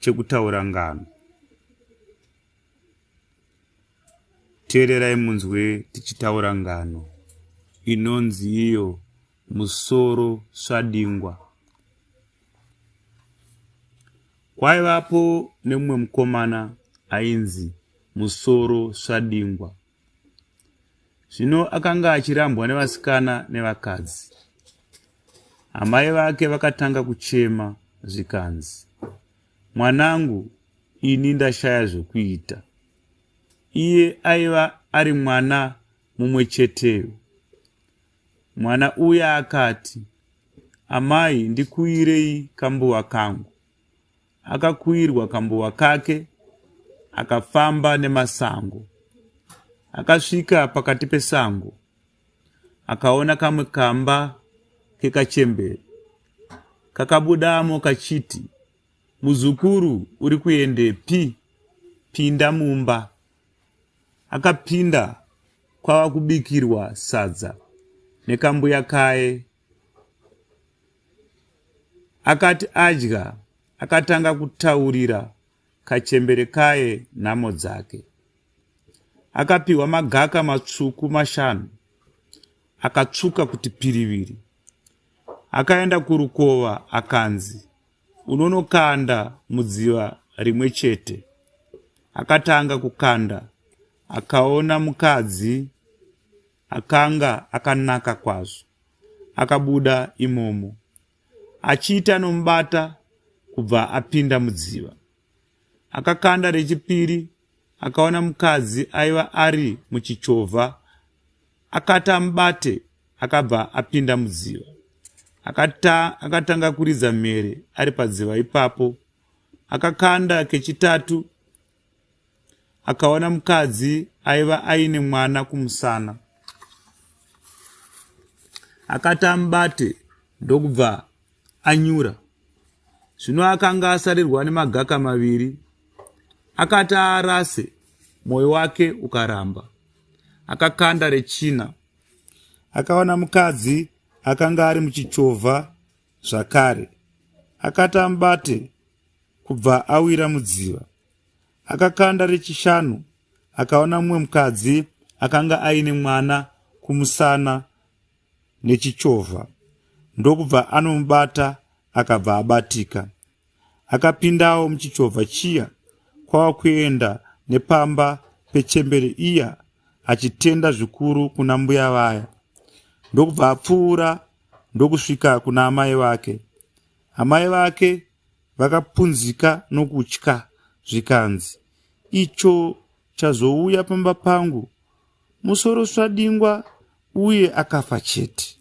chekutaura ngano teererai munzwe tichitaura ngano inonzi iyo musoro swadingwa kwaivapo nemumwe mukomana ainzi musoro swadingwa zvino akanga achirambwa nevasikana nevakadzi amai vake vakatanga kuchema zvikanzi mwanangu ini ndashaya zvekuita iye aiva ari mwana mumwe cheteyo mwana uya akati amai ndikuirei kambuva kangu Akakuirwa kambuwa kake akafamba nemasango. Akasvika pakati pesango akaona kamwe kamba kekachembere kakabudamo kachiti, Muzukuru uri kuendepi? Pinda mumba. Akapinda kwava kubikirwa sadza nekambuya kaye Akati adya, akatanga kutaurira kachembere kaye nhamo dzake. Akapiwa magaka matsvuku mashanu, akatsvuka kuti piriviri. Akaenda kurukova akanzi, unonokanda mudziva rimwe chete. Akatanga kukanda, akaona mukadzi Akanga akanaka kwazvo. Akabuda imomo achiita anomubata kubva apinda mudziva. Akakanda rechipiri akaona mukadzi aiva ari muchichovha akati amubate akabva apinda mudziva akata akatanga kuridza mhere ari padziva ipapo akakanda kechitatu akaona mukadzi aiva aine mwana kumusana akati amubate ndokubva anyura zvino akanga asarirwa nemagaka maviri akati aarase mwoyo wake ukaramba akakanda rechina akaona mukadzi akanga ari muchichovha zvakare akati amubate kubva awira mudziva. Akakanda rechishanu akaona mumwe mukadzi akanga aine mwana kumusana nechichovha ndokubva anomubata akabva abatika. Akapindawo muchichovha chiya kwava kuenda nepamba pechembere iya achitenda zvikuru kuna mbuya vaya ndokubva apfuura ndokusvika kuna amai vake. Amai vake vakapunzika nokutya zvikanzi, Icho chazouya pamba pangu musoro swadingwa uye akafa chete.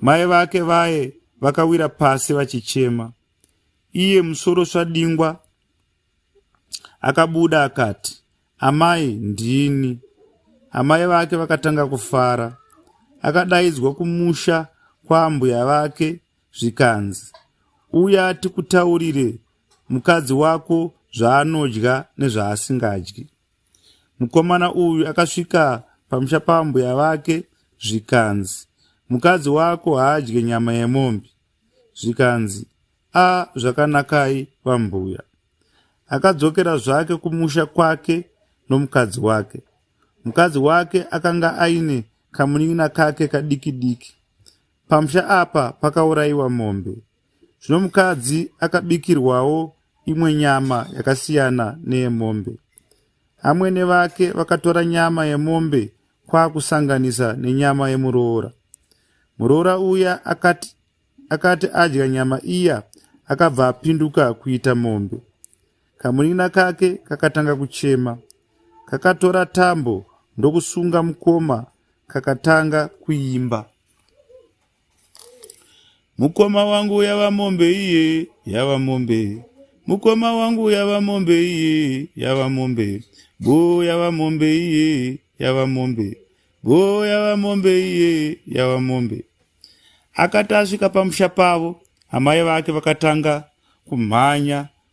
Mai vake vaye vakawira pasi vachichema. Iye musoro swadingwa akabuda akati, Amai, ndini. Amai vake vakatanga kufara. Akadaidzwa kumusha kwaambuya vake zvikanzi, Uya tikutaurire mukadzi wako zvaanodya nezvaasingadyi. Mukomana uyu akasvika pamusha pambuya vake zvikanzi, Mukadzi wako haadye nyama yemombe. Zvikanzi, A, zvakanakai vambuya. Akadzokera zvake kumusha kwake nomukadzi wake. Mukadzi wake akanga aine kamunin'ina kake kadiki diki. Pamusha apa pakaurayiwa mombe. Zvino mukadzi akabikirwawo imwe nyama yakasiyana neyemombe. Amwene vake vakatora nyama yemombe kwakusanganisa nenyama yemuroora. Muroora uya akati, akati adya nyama iya akabva apinduka kuita mombe. Kamunin'ina kake kakatanga kuchema. Kakatora tambo ndokusunga mukoma kakatanga kuimba. Mukoma wangu yava mombe iye yava mombe mukoma wangu yava mombe iye yava mombe go yava mombe iye yava mombe go yava mombe iye yava mombe akati asvika pamusha pavo amai vake vakatanga kumhanya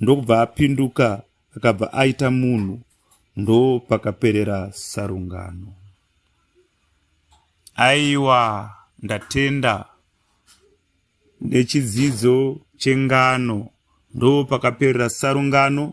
ndokubva apinduka akabva aita munhu ndo pakaperera sarungano aiwa ndatenda nechidzidzo chengano ndo pakaperera sarungano